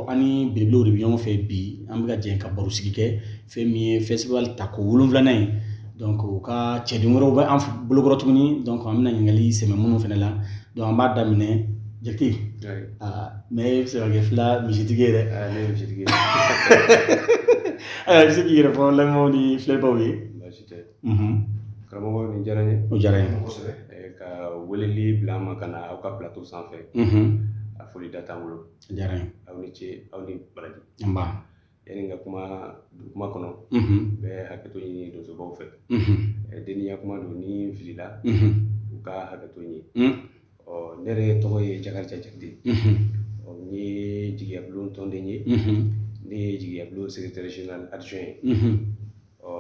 An bibu de bɛ ɲɔgɔn fɛ bi an bɛka jɛ ka baro sigi kɛ fɛn min ye festival tako wolonwulanan ye donc u ka ciden wɛrɛ bɛ an bolokɔrɔ tuguni donc an bɛna ɲininkali sɛmɛ minnu fana la donc an b'a daminɛ jakite aa mais e bɛ se ka kɛ fula misitigi yɛrɛ bɛ se k'i yɛrɛ fɔ lamɛn ni filɛbaw ye karamɔgɔ diyara n ye o diyara n ye ka wele bila ma ka na aw ka plateau sanfɛ a foli da' bolo diyara n ye aw ni ce aw ni baraji nba yani n ka kuma don kuma kɔnɔ n bɛ hakɛto ɲini donsobaw fɛ deniya kuma don ni n filila u ka hakɛto n ye ɔ ne yɛrɛ tɔgɔ ye jakariya jakite ɔ n ye jigiyabulon tɔnden ye ne ye jigiyabulon secrétaire général adjoint ye ɔ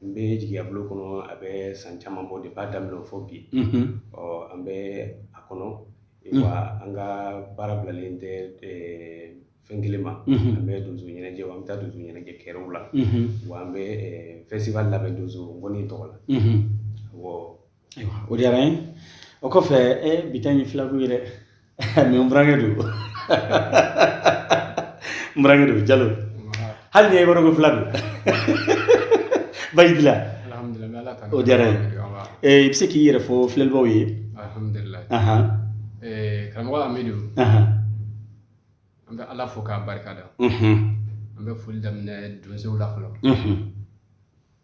N bɛ jigiya bulon kɔnɔ a bɛ san caman bɔ de b'a daminɛ fo bi ɔ an bɛ a kɔnɔ an ka baara bilalen tɛ fɛn kelen ma an bɛ donso ɲɛnajɛ an bɛ taa donso ɲɛnajɛ kɛyɔrɔw la wa an bɛ festival labɛn donso ngɔni tɔgɔ la ayiwa o diyara n ye o kɔfɛ e bitɔn ye filakun ye dɛ mais n burankɛ don n burankɛ don jalo hali ni ye yɔrɔ ko fula don baji la o diyara n ye i bɛ se k'i yɛrɛ fɔ filɛlibaw ye karamɔgɔ amidu an bɛ ala fo k'a barika da an bɛ foli daminɛ donsow la fɔlɔ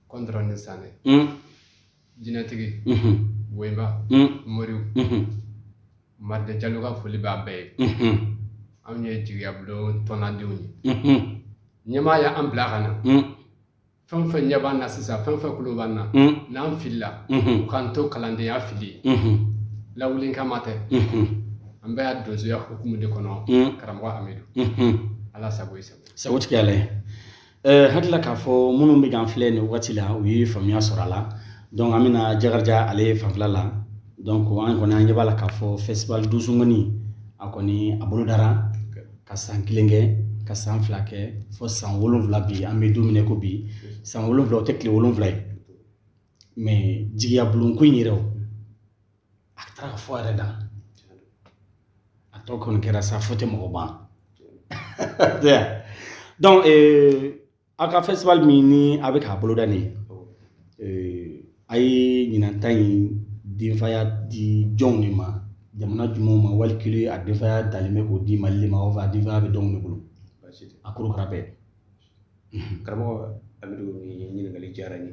kɔntɔrɔn ni sanɛ Jinɛtigi woyiba mori mari jalo ka foli b'a bɛɛ ye anw ye jigiya bulon tɔndenw ye ɲɛmaaw ye an bila ka na fɛn o fɛn ɲɛ b'an na sisan fɛn o fɛn tulo b'an na n'an filila u k'an to kalandenya fili ye lawulinkama tɛ an bɛ yan donsoya hukumu de kɔnɔ karamɔgɔ amidu ala sago sago tigi ala ye Ɛɛ hakilila k'a fɔ minnu bɛ k'an filɛ nin wagati la u ye faamuya sɔrɔ a la donc an bɛna jakariya ale fanfɛ la donc an kɔni an ɲɛ b'a la k'a fɔ festival donso ngɔni a kɔni a bolodara ka san kelen kɛ ka san fila kɛ fo san wolonwula bi an bɛ don min na ko bi san wolonwula o tɛ tile wolonwula ye mais jigiyabulon ko in yɛrɛ o a taara ka fɔ a yɛrɛ da a tɔ kɔni kɛra sa fo tɛ mɔgɔ ban donc aw ka festival min ni a bɛ k'a boloda nin ye a ye ɲinan ta in denfaya di jɔnw de ma jamana jumɛnw ma wali kelen a denfaya dalen bɛ k'o di mali de ma o fɛ a denfaya bɛ jɔnw de bolo a korokara bɛɛ karamɔgɔ amidu ɲininkali diyara n ye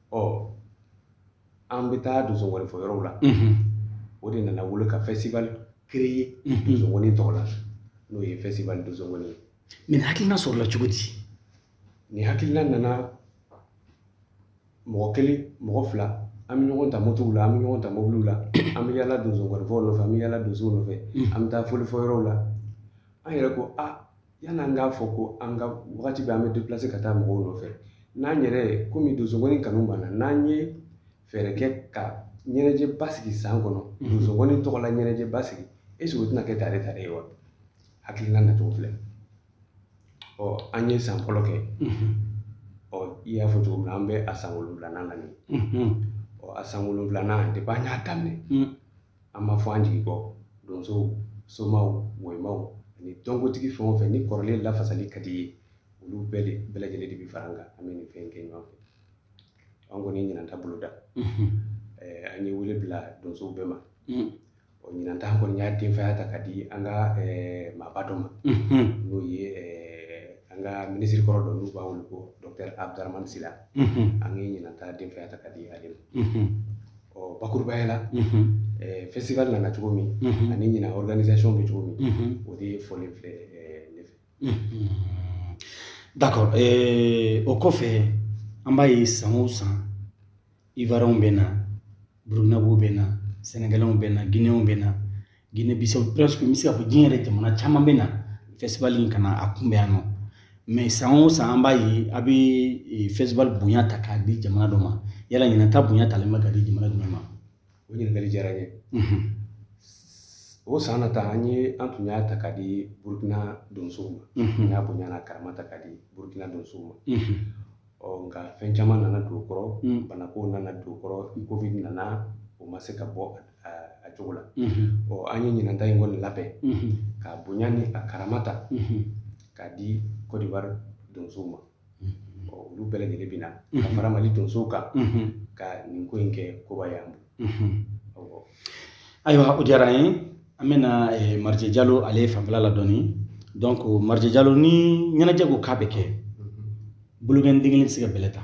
ɔ an bɛ taa donsongɔni fɔ yɔrɔw la o de nana wolo ka festival créer donsongɔni tɔgɔ la n'o ye festival donsongɔni ye nin hakilina sɔrɔla cogo di nin hakilina nana mɔgɔ kelen mɔgɔ fila an bɛ ɲɔgɔn ta motow la an bɛ ɲɔgɔn ta mobiliw la an bɛ yalala donsongɔnifɔ nɔfɛ an bɛ yalala donso nɔfɛ an bɛ taa fɔlifɔ yɔrɔw la an yɛrɛ ko aa Yani an k'a fɔ ko an ka waati bɛɛ an bɛ déplacer ka taa mɔgɔw nɔfɛ n'an yɛrɛ komi donsongɔni kanu b'an na n'an ye fɛɛrɛ kɛ ka ɲɛnajɛ ba sigi san kɔnɔ donsongɔni tɔgɔ la ɲɛnajɛ ba sigi est-ce que o tɛna kɛ tare ta ye wa hakilina nacogo filɛ ɔ an ye san fɔlɔ kɛ ɔ i y'a fɔ cogo min na an bɛ a san wolonwula na ɔ a san wolonwula de b'an y'a daminɛ an ma fɔ an jigi kɔ donsow somaw domaw ani dɔnkotigi fɛn o fɛn ni kɔrɔlen lafasali ka di i ye olu bɛɛ de bɛɛ lajɛlen de bɛ fara an kan an bɛ nin fɛn kɛ ɲɔgɔn fɛ an kɔni ɲinan ta boloda an ye wele bila donso bɛɛ ma ɔ ɲinan ta an kɔni y'a denfaya ta ka di an ka maaba dɔ ma n'o ye an ka minisiri kɔrɔ dɔ n'u b'a wele ko dɔkitɛri abudaramani sila an ye ɲinan ta denfaya ta ka di ale ma Ɔ bakurubaya la festival nana cogo min ani ɲinan organisation bɛ cogo min o de ye fɔlen filɛ ne fɛ d'accord o kɔfɛ an b'a ye san o san ivoirienw bɛ na burkinabèw bɛ na sénégalaisw bɛ na guinéenw bɛ na Guinée Bissau presque n bɛ se k'a fɔ diɲɛ yɛrɛ jamana caman bɛ na festival in ka na a kunbɛn yan nɔ mais san o san an b'a ye a bɛ e, festival bonya ta k'a di jamana dɔ ma yala ɲinan ta bonya talen bɛ ka di jamana jumɛn ma o ɲininkali diyara n ye mhm. o salon ta an ye an tun y'a ta ka di burukina donsow ma mhm. an y'a bonya n'a karama ta ka di burukina donsow ma mhm. ɔ nka fɛn caman nana don o kɔrɔ mm. banako nana don o kɔrɔ covid nana o ma se ka bɔ a cogo la ɔ an ye ɲinan ta in kɔni labɛn ka bonya ni a karama ta k'a di kɔdiwari donsow ma ɔ olu bɛɛ lajɛlen bɛ na ka fara mali donsow kan ka nin ko in kɛ koba y'an bolo ayiwa o diyara an ye an bɛna eh, marije jalo ale fanfɛla la dɔɔni donc marije jalo ni ɲɛnajɛ ko k'a bɛ kɛ bolokɔni den kelen tɛ se ka bɛlɛ ta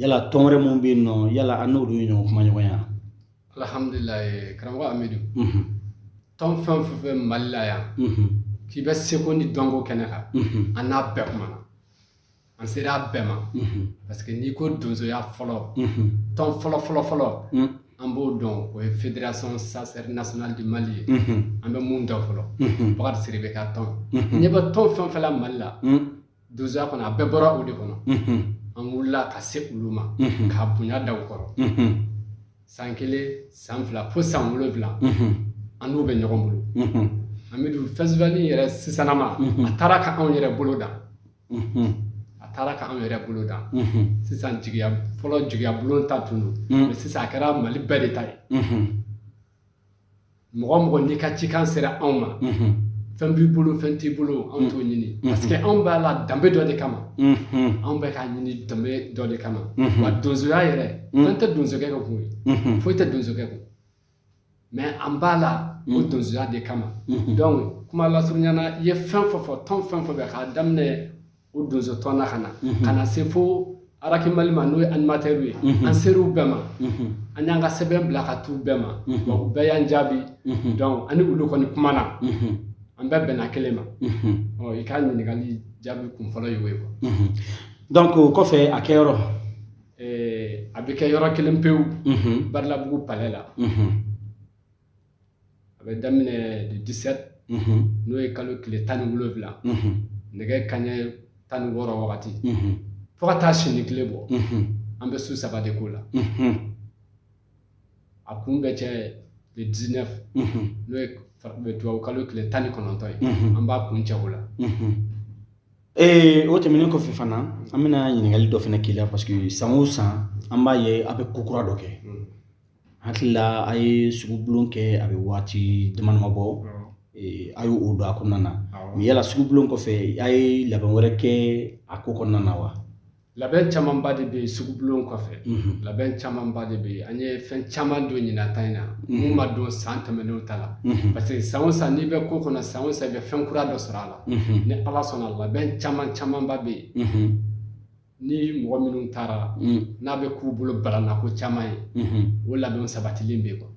yala tɔn wɛrɛ minnu bɛ yen nɔ yala an n'olu ye ɲɔgɔn kumaɲɔgɔnya alihamdulila karamɔgɔ amidu tɔn fɛn o fɛn mali la yan k'i bɛ seko ni dɔnko kɛnɛ kan an n'a bɛɛ kumana an sera a bɛɛ ma parce que n'i ko donsoya fɔlɔ tɔn fɔlɔ fɔlɔ fɔlɔ an b'o dɔn o ye fédération chasseurs nationale du mali ye an bɛ mun dɔn fɔlɔ bakari sidibe ka tɔn ɲɛ bɛ tɔn fɛn fɛn la mali la donsoya kɔnɔ a bɛɛ bɔra o de kɔnɔ an wulila ka se olu ma k'a bonya da u kɔrɔ san kelen san fila fo san wolonwula an n'u bɛ ɲɔgɔn bolo an bɛ don festival nin yɛrɛ sisanma a taara ka anw yɛrɛ bolo dan a taara ka anw yɛrɛ bolo dan sisan jigiya fɔlɔ jigiya bulon ta tun don mais sisan a kɛra mali bɛɛ de ta ye mɔgɔ o mɔgɔ n'i ka cikan sera anw ma fɛn b'i bolo fɛn t'i bolo anw t'o ɲini parce que anw b'a la danbe dɔ de kama anw bɛ k'a ɲini danbe dɔ de kama wa donsoya yɛrɛ fɛn tɛ donsokɛ ka kun ye foyi tɛ donsokɛ kun mais an b'a la o donsoya de kama donc kuma lasurunyana i ye fɛn fɔ fɔ tan fɛn fɔ bɛ k'a daminɛ O donso tɔn ka na ka na se fo araki mali ma n'o ye animateur ye an sera u bɛɛ ma an y'an ka sɛbɛn bila ka t'u bɛɛ ma u bɛɛ y'an jaabi donc an ni olu kɔni kuma na an bɛɛ bɛnna kelen ma i ka ɲininkakali jaabi kun fɔlɔ ye o ye quoi donc o kɔfɛ a kɛ yɔrɔ a bɛ kɛ yɔrɔ kelen pewu badalabugu palais la a bɛ daminɛ le dix-sept n'o ye kalo tile tan ni wolonwula nɛgɛ kaɲɛ tan ni wɔɔrɔ wagati fo ka taa sini tile bɔ an bɛ su saba de k'o la a kun bɛ cɛ le dix-neuf n'o ye tubabu kalo tile tan ni kɔnɔntɔn ye an b'a kuncɛ o la ee o tɛmɛnen kɔfɛ fana an bɛna ɲininkakali dɔ fana k'i la parce que san o san an b'a ye a bɛ ko kura dɔ kɛ Hakili la a ye sugu bulon kɛ a bɛ waati damadama bɔ a y'o don a kɔnɔna na u yala sugu bulon kɔfɛ a ye labɛn wɛrɛ kɛ a ko kɔnɔna na wa labɛn camanba de bɛ sugu bulon kɔfɛ labɛn camanba de bɛ an ye fɛn caman don ɲinan ta in na minnu ma don san tɛmɛnenw ta la parce que san o san n'i bɛ ko kɔnɔ san o san i bɛ fɛn kura dɔ sɔrɔ a la ni ala sɔnna labɛn caman camanba bɛ yen ni mɔgɔ minnu taara n'a bɛ k'u bolo balannako caman ye o labɛn sabatilen bɛ quoi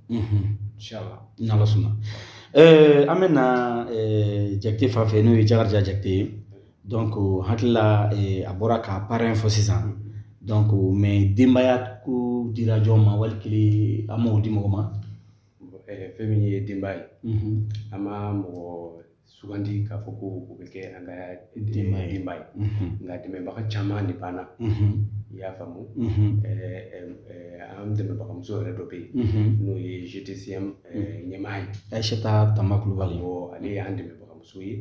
ni ala sɔnna an bɛ na jakite fan fɛ n'o ye jakarija jakite ye donc n hakili la a bɔra ka parrain fɔ sisan donc mais denbaya ko dira jɔn ma wali kelen an m'a di mɔgɔ ma fɛn min ye denbaya ye an ma mɔgɔ sugandi k'a fɔ ko o bɛ kɛ an ka denba ye nka dɛmɛbaga caman de b'an na i y'a faamu an dɛmɛbagamuso yɛrɛ dɔ bɛ yen n'o ye GTCM ɲɛmaa ye ayiseta tanba kulubali ale y'an dɛmɛbagamuso ye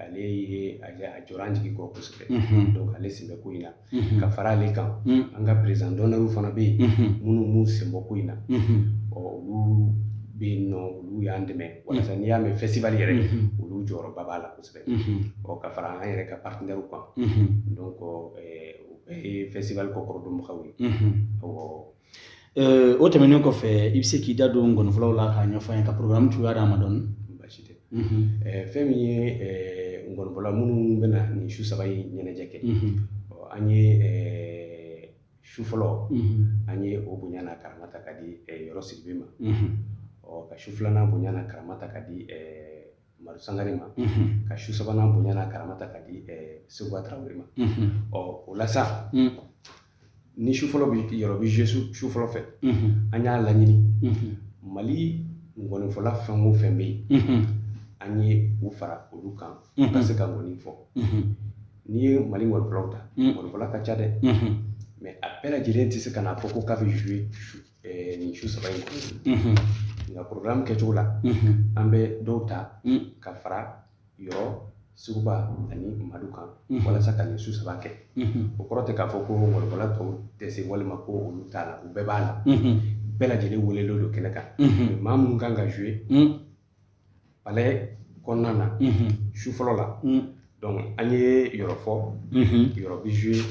ale ye a jɔ an jigi kɔ kosɛbɛ donc ale sen bɛ ko in na ka fara ale kan an ka perezidan dɔnɛriw fana bɛ yen minnu b'u senbɔ ko in na ɔ olu bɛ yen nɔ olu y'an dɛmɛ walasa n'i y'a mɛn fɛsitiwali yɛrɛ olu jɔyɔrɔba b'a la kosɛbɛ ɔ ka fara an yɛrɛ ka paritenɛriw kan donc fɛsitiwali kɔkɔrɔdonbagaw ye o tɛmɛnen kɔfɛ i bɛ se k'i da don nkɔnifɔlaw la k'a ɲɛfɔ an ye ka porogaramu cogoya d'an ma dɔɔnin basi tɛ fɛn min ye nkɔnifɔla minnu bɛ na nin su saba in ɲɛnajɛ kɛ an ye su fɔlɔ an ye o bonya n'a karama ta ka di yɔrɔ sidibe ma ɔ ka su filanan bonya n'a karama ta ka di Madu Sangare ma ka su sabanan bonya karama ta ka di sekuba tarawele ma ɔ o la sa ni su fɔlɔ bɛ yɔrɔ bɛ zuwe su fɔlɔ fɛ an y'a laɲini mali ngɔnifɔla fɛn o fɛn bɛ yen an ye u fara olu kan ka se ka ngɔni fɔ n'i ye mali ngɔnifɔlaw ta ngɔnifɔla ka ca dɛ mɛ a bɛɛ lajɛlen tɛ se ka na fɔ ko k'a bɛ zuwe nin su saba in kɔnɔ nka porogaramu kɛcogo la an bɛ dɔw ta ka fara yɔrɔ sekuba ani madu kan walasa ka nin su saba kɛ o kɔrɔ tɛ k'a fɔ ko ngɔnifɔla tɔw tɛ se walima ko olu t'a la u bɛɛ b'a la bɛɛ lajɛlen welelen don kɛnɛ kan maa minnu kan ka zuwe palais kɔnɔna na su fɔlɔ la donc an ye yɔrɔ fɔ yɔrɔ bɛ jouer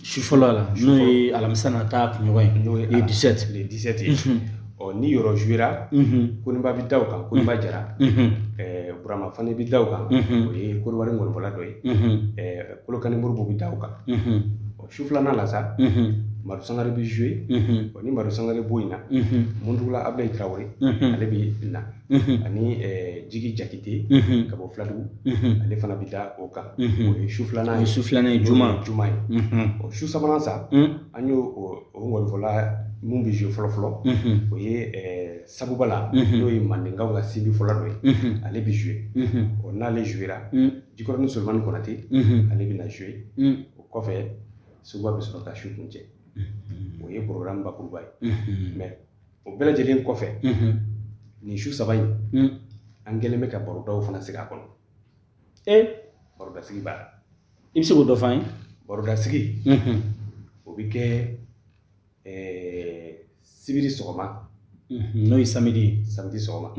su fɔlɔ la n'o ye alamisa nata kunɲɔgɔn ye n'o ye le 17 le 17 ye ɔ ni yɔrɔ jouera Koniba bɛ da o kan Koniba Jara Burama Fane bɛ da o kan o ye Kɔdiwari ngɔnifɔla dɔ ye Kolokani Modibo bɛ da o kan su filanan la sa madu sangare bɛ zuwe ni madu sangare bɔ in na muntugula abulayi tarawele ale bɛ na ani jigi jakite ka bɔ filadugu ale fana bɛ da o kan o ye su filanan ye su filanan ye juma ye o su sabanan sa an ye ngɔnifɔla min bɛ zuwe fɔlɔfɔlɔ o ye sagoba la n'o ye mandenkaw ka sinbifɔla dɔ ye ale bɛ zuwe ɔ n'ale zuwera jikɔrɔnin solomani konate ale bɛ na zuwe o kɔfɛ sekuba bɛ sɔrɔ ka su kuncɛ o ye porogaramu bakuruba ye mɛ o bɛɛ lajɛlen kɔfɛ nin su saba in an kɛlen bɛ ka barodaw fana sigi a kɔnɔ e barodasigi b'a la i bɛ se k'o dɔ fɔ an ye barodasigi o bɛ kɛ sibiri sɔgɔma n'o ye samedi samedi sɔgɔma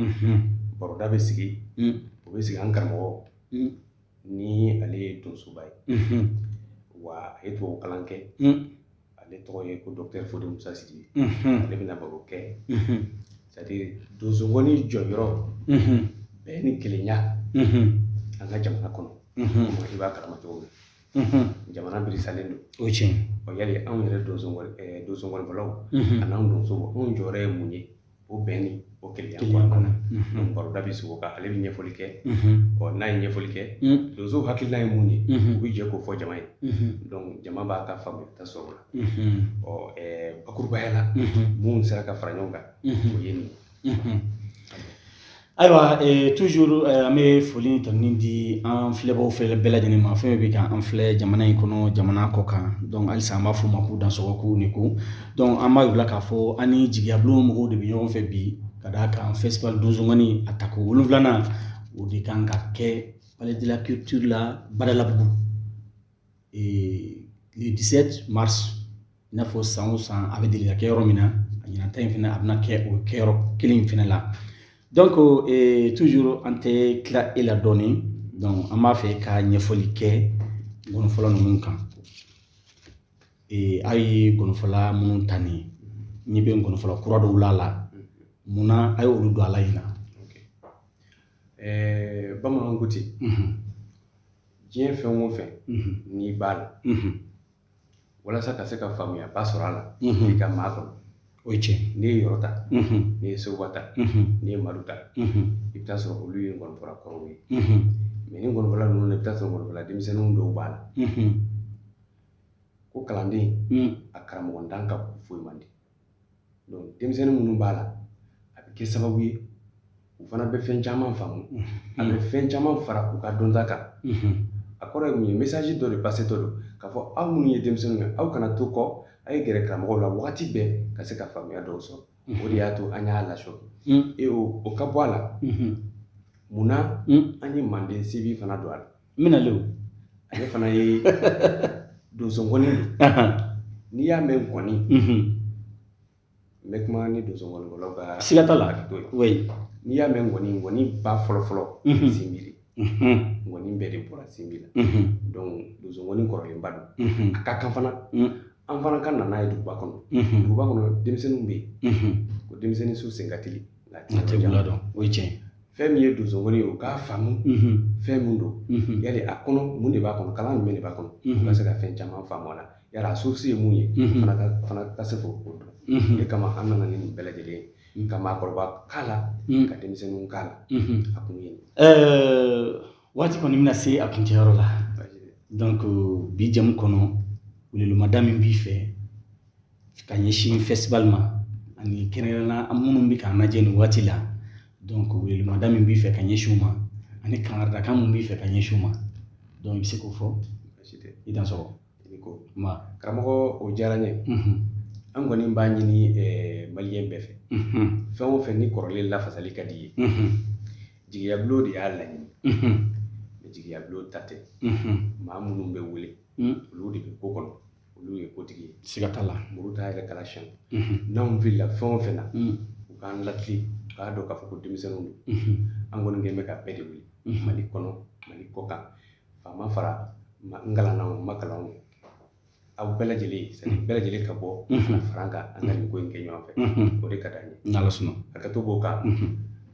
baroda bɛ sigi o bɛ sigi an karamɔgɔ ni ale ye donsoba ye wa a ye tubabu kalan kɛ ale tɔgɔ ye ko docteur fode musa sidibe ale bɛna baro kɛ c'est-à-dire donsokɔni jɔyɔrɔ bɛn ni kelenya an ka jamana kɔnɔ i b'a kalama cogo min jamana birisalen don o tiɲɛ o yali anw yɛrɛ donsokɔnifɔlaw ani donsow anw jɔyɔrɔ ye mun ye o bɛn ni o kelenya kɔnɔna na baroda bɛ sigi o kan ale bɛ ɲɛfɔli kɛ ɔ n'a ye ɲɛfɔli kɛ donso hakilila ye mun ye u bɛ jɛ k'o fɔ jama ye donc jama b'a ka faamuyata sɔrɔ o la ɔ bakurubaya la mun sera ka fara ɲɔgɔn kan o ye nin ye Ayiwa toujours an bɛ foli ta min di an filɛbaw fɛ bɛɛ lajɛlen ma fɛn bɛɛ bɛ ka an filɛ jamana in kɔnɔ jamana kɔ kan donc halisa an b'a fɔ u ma k'u dansɔgɔ k'u ni ko donc an b'a jira k'a fɔ an ni jigiya bulon mɔgɔw de bɛ ɲɔgɔn fɛ bi ka d'a kan festival donso nkɔni a tako wolonwulanan o de kan ka kɛ palais de la culture la badalabugu le dix-sept mars i n'a fɔ san o san a bɛ deli ka kɛ yɔrɔ min na a ɲinanta in fana a bɛna kɛ o kɛ yɔrɔ kelen in fana la donc toujours an tɛ tila i la dɔɔnin an b'a fɛ ka ɲɛfɔli kɛ nkɔnifɔla ninnu kan a ye nkɔnifɔla minnu ta nin n ɲɛ bɛ nkɔnifɔla kura dɔw la a la munna a ye olu don a la ɲinan ɛɛ bamananw ko ten diɲɛ fɛn o fɛn n'i b'a la walasa ka se ka faamuyaba sɔrɔ a la i ka maa kɔnɔ o ye tiɲɛ n'i ye yɔrɔ ta n'i ye sekuba ta n'i ye madu ta i bɛ taa sɔrɔ olu ye nkɔnifɔla kɔrɔw ye mais ni nkɔnifɔla ninnu i bɛ taa sɔrɔ nkɔnifɔla denmisɛnninw dɔw b'a la ko kalanden a karamɔgɔntan ka ko fɔ man di donc denmisɛnnin minnu b'a la a bɛ kɛ sababu ye u fana bɛ fɛn caman faamu a bɛ fɛn caman fara u ka dɔnta kan a kɔrɔ ye mun ye message dɔ de passétɔ don k'a fɔ aw minnu ye denmisɛnninw ye aw kana to kɔ a ye gɛrɛ karamɔgɔw la wagati bɛɛ ka se ka faamuya dɔw sɔrɔ o de y'a to an y'a lasɔrɔ e o ka bɔ a la munna an ye manden sinbi fana don a la n bɛna lew ale fana ye donso nkɔni de n'i y'a mɛn nkɔni n bɛ kuma ni donso nkɔnifɔlaw ka siga t'a la n'i y'a mɛn nkɔni nkɔni ba fɔlɔ fɔlɔ sinbi de ŋɔni bɛɛ de bɔra sinbi la donc donso ŋɔni kɔrɔlenba don a ka kan fana an fana ka na n'a ye duguba kɔnɔ duguba kɔnɔ denmisɛnninw bɛ yen ko denmisɛnnin su senkatili Latɛmɛla dɔn o ye tiɲɛ fɛn min ye donsonkɔni ye u k'a faamu fɛn min don yala a kɔnɔ mun de b'a kɔnɔ kalan jumɛn de b'a kɔnɔ ka se ka fɛn caman faamu a la yala a source ye mun ye ka se k'o ko dɔn o kama an nana ninnu bɛɛ lajɛlen ye ka maakɔrɔba k'a la ka denmisɛnnin k'a la a tun ye ɛɛ waati kɔni bɛna se a kuncɛyɔrɔ la ko bi jɛmu kɔnɔ welemada min b'i fɛ ka ɲɛsin festival ma ani kɛrɛnkɛrɛnna an minnu bɛ k'an lajɛ nin waati la donc welemada min b'i fɛ ka ɲɛsin ma ani kangaridakan min b'i fɛ ka ɲɛsin ma donc i bɛ se k'o fɔ i dan sɔrɔ i ko ma karamɔgɔ o diyara n ye an kɔni b'a ɲini eh, maliyɛn bɛɛ fɛ fɛn o fɛn ni kɔrɔlen lafasali ka d'i ye jigiyabulon de y'a laɲini jigiyabulon ta tɛ maa minnu bɛ wele olu de bɛ ko kɔnɔ olu ye kotigi ye siga t'a la muru t'a yɛrɛ kala siyɛn n'anw filila fɛn o fɛn na u k'an latilen u k'a dɔn k'a fɔ ko denmisɛnninw don an kɔni kɛlen bɛ ka bɛɛ de wele mali kɔnɔ mali kɔkan faama faantan kalannaw ma kalanw ye aw bɛɛ lajɛlen bɛɛ lajɛlen ka bɔ fara an kan an ka nin ko in kɛ ɲɔgɔn fɛ o de ka d'an ye n'ala sɔnna a ka to k'o kan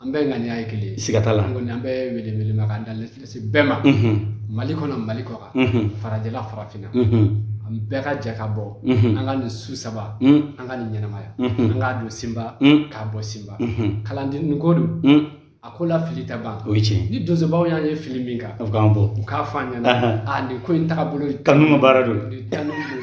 An bɛɛ ŋaniya ye kelen siga t'a la an bɛ welemakan da bɛɛ ma mali kɔnɔ mali kɔkan farajɛla farafinna an bɛɛ ka jɛ ka bɔ an ka nin su saba an ka nin ɲɛnamaya an k'a don senba k'a bɔ senba kalanden ko don a ko la fili tɛ ban o cɛ ni donsobaw y'an ye fili min kan bɔ u k'a fɔ an ɲɛna nin ko in taabolo kanu baara don